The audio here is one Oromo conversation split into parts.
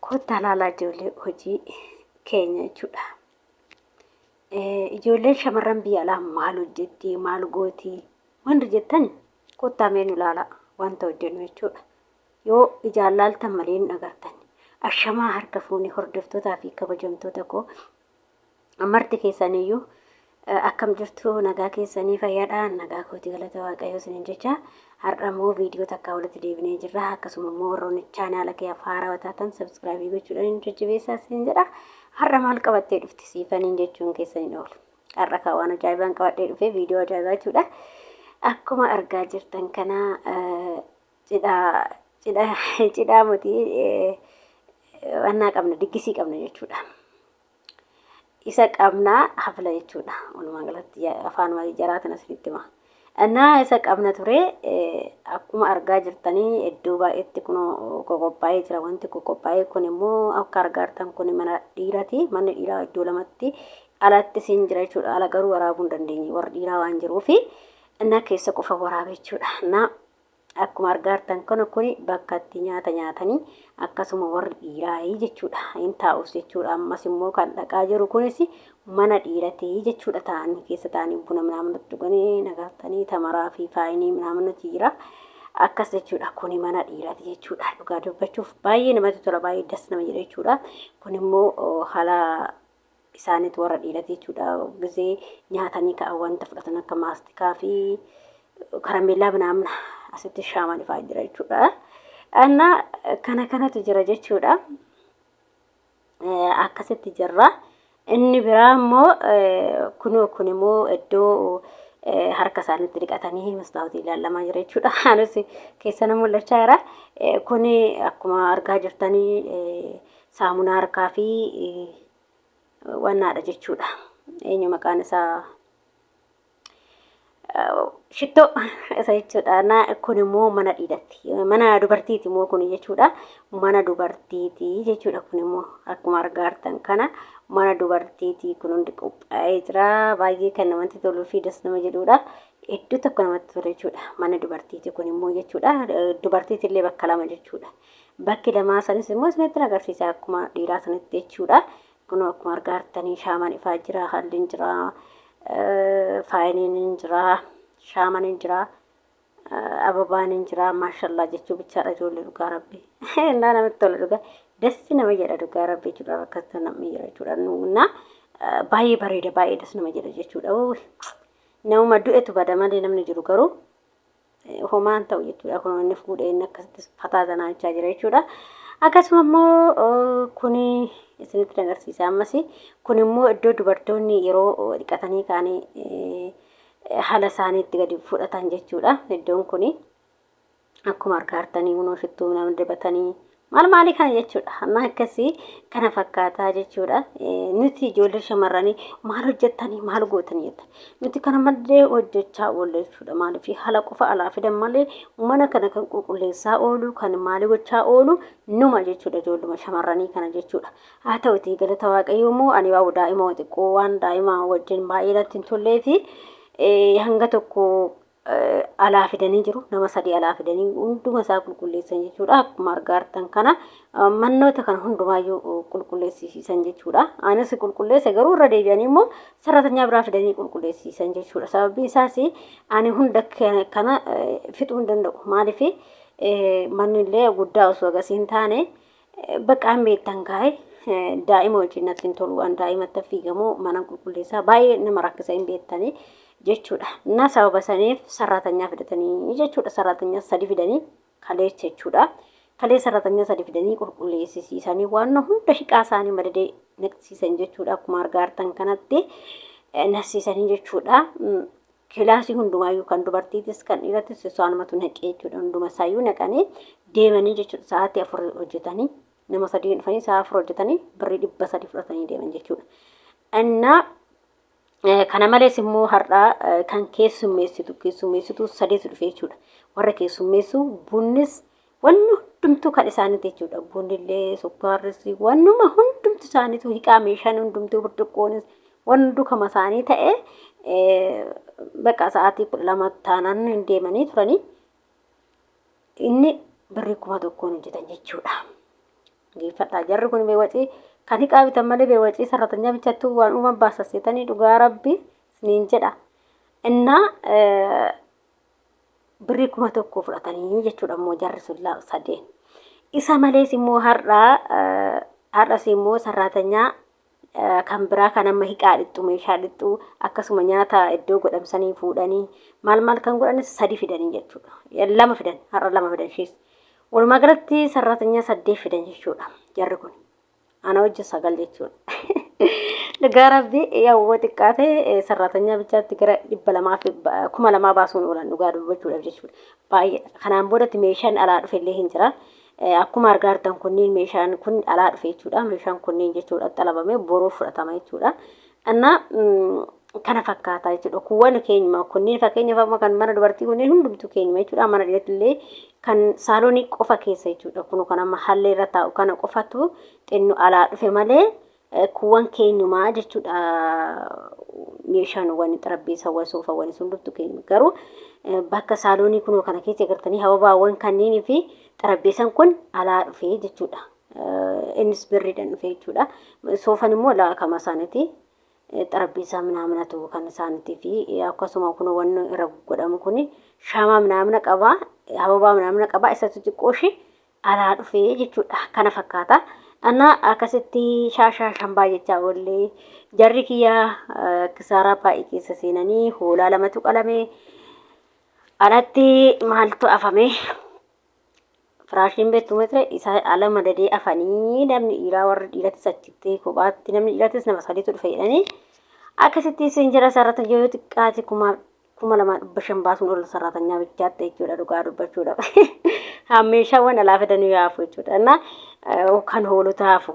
Kottaa laalaa ijoollee hojii keenya jechuudha. Ijoolleen shamarran biyya alaa maal hojjetti maal gooti wanti jettan kottaa mee nu laalaa wanta hojjennu jechuudha. Yoo ijaan laaltan malee hin agartan. Ashamaa harka fuunee hordoftootaa fi kabajamtoota koo marti keessaniyyuu akkam jirtu nagaa keessanii fayyadha nagaa kooti galata waaqayyoo isinin jecha har'a immoo viidiyoo takkaa walitti deebinee jirra akkasuma immoo warroonni chaanaala kee haaraa taatan sabskraabii gochuudhaan hin jajjabeessaa isin jedha har'a maal qabattee dhufti siifaniin jechuun keessaniin oolu har'a kaa waan ajaa'ibaan qabadhee dhufee viidiyoo ajaa'ibaa jechuudha akkuma argaa jirtan kana Cidhaa cidhaa cidhaa moti wannaa qabna diggisii qabna jechuudha. Isa qabnaa hafla jechuudha. Walumaa galatti ya- afaan waa'ee jaraatiin asinitti hima. Annaa isa qabna ture eh, akkuma argaa jirtanii iddoo baay'eetti kun qoqophaa'ee jira. Wanti qoqophaa'ee kun immoo akka argaa jirtan kun mana dhiiraati. Manni dhiiraa iddoo lamatti alatti siin jira jechuudha. Ala garuu waraabuu hin dandeenye. Warri dhiiraa waan jiruufi innaa keessa qofa waraabe jechuudha. Innaa Akkuma argaartan kana kuni bakka itti nyaata nyaatani akkasuma warri dhiiraayi jechuudha in taa'us jechuudha ammas immoo kan dhaqaa jiru kunis mana dhiirati jechuudha taa'anii keessa taa'anii buna minaaminatti dhuganii nagartanii tamaraa fi faayinii minaaminati jira akkas jechuudha kuni mana dhiirati jechuudha dhugaa dubbachuuf baay'ee namatti tola baay'ee das nama jedha jechuudha kun immoo haala isaanit warra dhiirati jechuudha gizee nyaatanii ka'an wanta fudhatan akka maastikaa fi karameellaa binaamna asitti shaaman ifaa jira jechuudha. Anna kana kanatu jira jechuudha. Akkasitti jirra. Inni biraa immoo kunoo kun immoo iddoo harka isaanitti dhiqatanii mastaawotii ilaalamaa jira jechuudha. Anis keessana mul'achaa jira. Kuni akkuma argaa jirtanii saamunaa harkaa fi wannaadha jechuudha. Eenyu maqaan isaa shittoo isa jechuudha. Na kun immoo mana dhiirati. Mana dubartiiti immoo kun jechuudha. Mana dubartiiti jechuudha kun immoo akkuma argaartan kana mana dubartiiti kun hundi qophaa'ee jira. Baay'ee kan namatti toluu fi das nama jedhuudha. Iddoo tokko namatti tola jechuudha. Mana dubartiiti kun immoo jechuudha. Dubartiitillee bakka lama jechuudha. Bakki lamaa sanis immoo isinittin agarsiisa akkuma dhiiraa sanitti jechuudha. Kunoo akkuma argaa jirtanii shaaman ifaa jira, halliin jira, faayiniin hin jira, shaaman hin jira, ababaan hin jira. Maashallaa jechuu bichaadha ijoollee dhugaa rabbi. Naa namatti tola dhugaa. Dassi nama jedha dhugaa rabbi jechuudha rakkata namni jira jechuudha. Naa baay'ee bareeda baay'ee das nama jedha jechuudha. Namuma du'etu bada malee namni jiru garuu homaan ta'u jechuudha. Kun inni fuudhee inni akkasitti fataa sanaa jechaa jira jechuudha. Akkasuma immoo kun isinitti agarsiisa ammas kun immoo iddoo dubartoonni yeroo dhiqatanii kaanii haala isaanii itti gadi fudhatan jechuudha. Iddoon kun akkuma argaa jirtanii kunoo shittuu nama dibatanii Maal maalii kana jechuudha. Amma akkasii kana fakkaataa jechuudha. Nuti ijoollee shamarranii maal hojjettanii maal gootanii jetta. Nuti kana maddee hojjechaa oolle jechuudha. Maaliif haala qofa alaa fidan malee mana kana kan qulqulleessaa oolu kan maalii gochaa oolu numa jechuudha ijoolluma shamarranii kana jechuudha. Haa ta'uti galata waaqayyoo immoo ani waa daa'ima xiqqoo waan daa'ima wajjin baay'ee natti hin tollee fi hanga tokko alaa fidanii jiru. Nama sadii alaa fidanii hunduma isaa qulqulleessan jechuudha. Akkuma argaa jirtan kana mannoota kana hundumaayyuu qulqulleessiisan jechuudha. Anis qulqulleesse garuu irra deebi'anii immoo sararatanyaa biraa fidanii qulqulleessiisan jechuudha. Sababiin isaas ani hunda kana fixuu hin danda'u. Maaliif manni illee guddaa osoo agarsiin taane Baqaan beektan kaa'e daa'ima wajjin natti hin tolu waan daa'imatti fiigamu mana qulqulleessaa baay'ee nama rakkisa hin beektanii jechuudha. Na sababa saniif sarratanyaa fidatanii jechuudha sarratanyaa sadi fidanii kaleessa jechuudha. Kalee sarratanyaa sadi fidanii qulqulleessisiisanii waan hunda hiqaa isaanii madadee naqsiisan jechuudha akkuma argaartan kanatti nasiisanii jechuudha. Kilaasii hundumaayyuu kan dubartiitis kan dhiiratis isaanumatu naqee jechuudha. Hunduma isaayyuu naqanii deemanii jechuudha. Sa'aatii afur hojjetanii nama sadii dhufanii sa'a afur hojjetanii birrii dhibba sadii fudhatanii deeman jechuudha. Innaa eh, kana malees immoo har'aa eh, kan keessummeessitu keessummeessitu sadeetu dhufe jechuudha. Warra keessummeessu bunnis Wanni hundumtuu kan isaaniiti jechuudha. Bunillee, sukkaarris, wannuma hundumtu isaaniitu hiqaa meeshaan hundumtuu burcuqqoonis wanni hunduu kama isaanii ta'e baqa sa'aatii kudha lama taanaan hin deemanii turanii inni birrii kuma tokkoon hojjetan jechuudha. Geeffadhaa jarri kun beewwacii kan hiqaa bitan malee beewwacii sarratanyaa bichattuu waan uuman baasasseetanii dhugaa rabbi isiniin jedha. Innaa birrii kuma tokko fudhatanii jechuudha immoo jarri sun la- sadeen. Isa malees immoo har'a eh, har'as immoo sarraatanyaa eh, kan biraa kan amma hiqaa dhixxu meeshaa dhixxu akkasuma nyaata iddoo godhamsanii fuudhanii maal maal kan godhanis sadi fidanii jechuudha. Eh, Lama fidan har'a lama fidan ishees. Walumaa galatti sarraatanyaa saddeet fidan jechuudha jarri kun. Ana wajjin sagal jechuudha. Dhugaa rabbii yoo xiqqaate sarraatanya bichaatti gara dhibba lamaa fi kuma lamaa baasuun oolan dhugaa dubbachuudhaaf jechuudha. Baay'ee kanaan boodatti meeshaan alaa dhufe illee hin jira. Akkuma argaa jirtan kunniin meeshaan kun alaa dhufe jechuudha. Meeshaan kunniin jechuudha xalabamee boruu fudhatama jechuudha. Annaa kana fakkaataa jechuudha. Kuwwan keenyuma kunniin fakkeenyaaf amma kan mana dubartii kunniin hundumtuu keenyuma jechuudha. Mana dhiirati illee kan saaloonii qofa keessa jechuudha. Kun kan amma hallee irra taa'u kana qofatu xinnu alaa dhufe malee kuwwan keenyumaa jechuudha. Meeshaan wani xarabbeessa wani soofa wani hundumtuu keenyuma garuu bakka saaloonii kunoo kana keessa gartanii hababaawwan kanniinii fi xarabbeessan kun alaa dhufe jechuudha. Innis birriidhaan dhufe jechuudha. Soofan immoo laakama isaaniiti. Xarabbiisaa minaaminatu kan isaaniitii fi akkasuma kun wanni irra godhamu kun shaamaa minaamina qabaa, hababaa minaamina qabaa, isatu xiqqoo ishee alaa dhufe jechuudha. Kana fakkaata. Anna akkasitti shaashaa shambaa jechaa oollee jarri kiyyaa kisaaraa baay'ee keessa seenanii hoolaa lamatu qalame. Alatti maaltu afame? Firaashiin beektu meetira isaa ala madadee afanii namni dhiiraa warri dhiirattis achitti kophaatti namni dhiirattis nama sadiitu dhufe jedhanii akkasitti siin jira sarratanya yoo xiqqaate kuma kuma lamaa dhibba shan baasuun ol sarratanyaa bichaatti jechuudha dhugaa dubbachuudhaaf. Haa meeshaawwan alaa fidanii haafu jechuudha. Innaa kan hoolota haafu.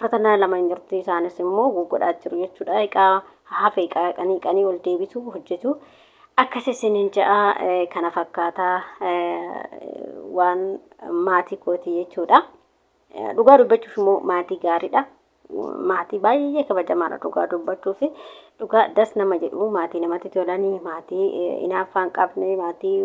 Fatanaa lama hin jirti isaanis immoo guggodhaa jiru jechuudha. Egaa hafe egaa qanii qanii ol deebitu hojjetu. Akkas isinin ja'a kana fakkaata waan maatii kooti jechuudha. Dhugaa dubbachuuf immoo maatii gaariidha. Maatii baay'ee kabajamaadha dhugaa dubbachuuf. Dhugaa das nama jedhu maatii namatti tolanii maatii inaaffaan qabne maatii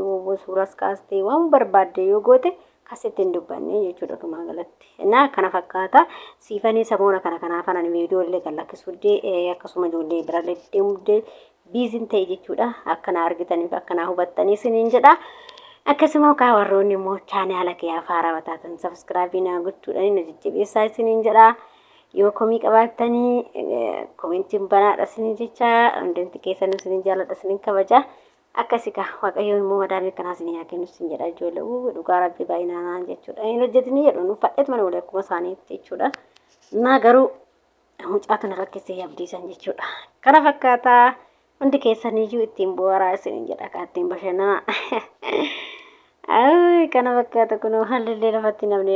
suuras kaastee waan barbaadde yoo goote Kasitti hin dubbanne jechuudha dhumaa galatti. Naa kana fakkaata siifanii samoona kana kanaa fanan viidiyoo illee kan lakkisuudde akkasuma ijoollee birallee deemudde biizin ta'e jechuudha. Akka naa argitaniif akka naa hubattanii isiniin jedha. Akkasuma kaa warroonni immoo chaanaala kee afaaraa wataatan sabiskiraabii naa gochuudhaan na jajjabeessaa isiniin jedha. Yoo komii qabaattanii komentiin banaadha isiniin jecha hundumti keessanuu isiniin jaaladha isiniin kabaja. Akkasi kaa waaqayyoo immoo madaamii akkanaa isin yaa kennu isin jedha ijoollee uuu dhugaa rabbii baay'inaanaa jechuudha hin hojjetini jedhu nu fadheet mana walii akkuma isaaniitti jechuudha naa garuu mucaatu na rakkisee abdiisan jechuudha kana fakkaataa hundi keessaniyyuu ittiin bu'aaraa isin jedha kaa ittiin bashannanaa kana fakkaata kunoo hallillee lafatti namni